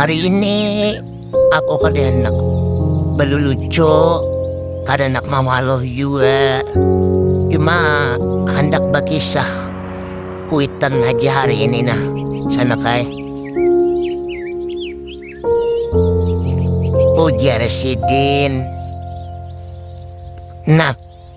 Hari ini aku kada handak balulucuk, kada handak mawaluh jua, cuma handak bakisah kuitan haja hari ini nah sanak ai. Ujar sidin. Nah.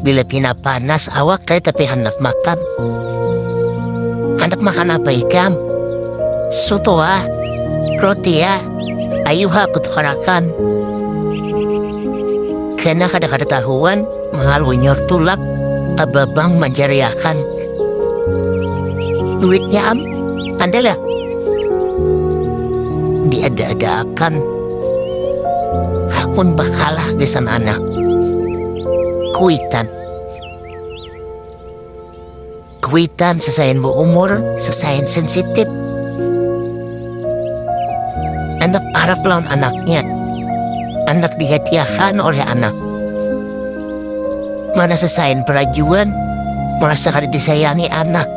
bila pina panas awak ai tapi handak makan. Handak makan apa ikam? Soto ah, roti ah, ayu ha kutukarakan. Kena kada kada tahuan, mahal wenyor tulak, ababang manjariakan. Duitnya am, andal ya? Diada-adaakan. Hakun bakalah di sana anak. kuitan kuitan sesain bu umur sesain sensitif anak arab lawan anaknya anak dihatiakan oleh anak mana sesain perajuan merasa kada disayangi anak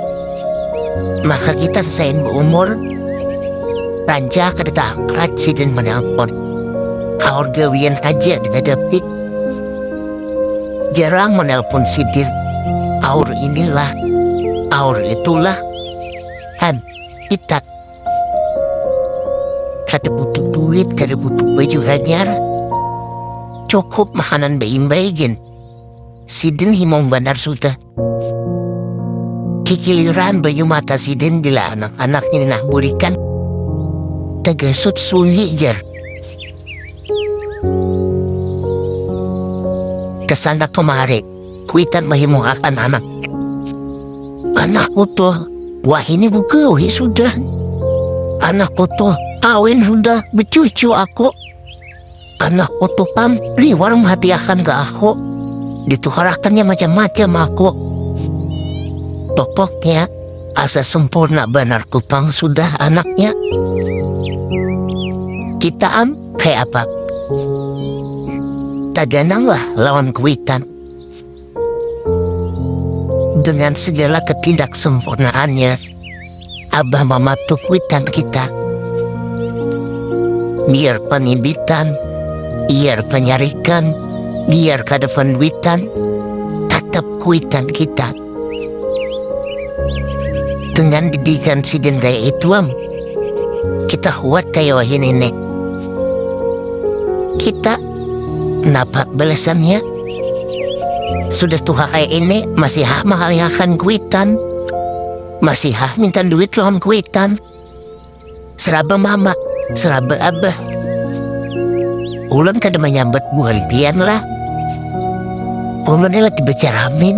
maka kita sesain bu umur rancak kada taangkat sidin menelpon haur gawian aja dihadapi jarang menelpon sidir aur inilah aur itulah kan kita kada butuh duit kada butuh baju hanyar cukup mahanan baimbai gin sidin himung banar sudah Kikiliran banyu mata sidin bila anak-anak ini nah burikan tegesut sunyi jer. Kesana kemari, kuitan mahimungakan anak. Anak utuh, wah ini buka wih sudah. Anak utuh, kawin sudah, becucu aku. Anak utuh pam liwar mahadiahkan ke aku. Ditukarakannya macam-macam aku. Pokoknya asa sempurna banar kupang sudah anaknya. Kita am kayak apa? Tagananglah lawan kuitan. Dengan segala ketidaksempurnaannya, Abah mematuk witan kita. Biar penibitan, biar penyarikan, biar kada penduitan, tetap kuitan kita. Dengan didikan sidin gaya ituam, kita huat kaya wahini nih. Kita, napa balasannya? Sudah tuha kaya ini, masih hak mahalihakan kuitan. Masih hak minta duit lawan kuitan. Seraba mama, seraba abah. Ulun kada menyambat buhan pian lah. Ulun ini lagi becaramin.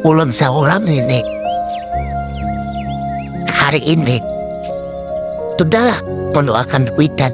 Ulun seorang ini. Hari ini. Sudahlah, mendoakan kuitan.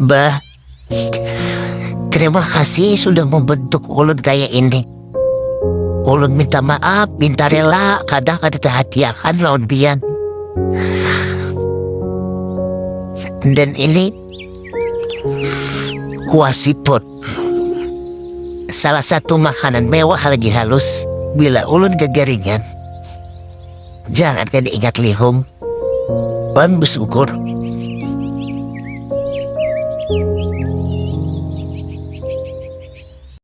Bah, terima kasih sudah membentuk ulun kayak ini. Ulun minta maaf, minta rela, kadang ada terhatiakan lawan pian. Dan ini kuah siput. Salah satu makanan mewah lagi halus bila ulun kekeringan. jangan kaya diingat lihum wan besyukur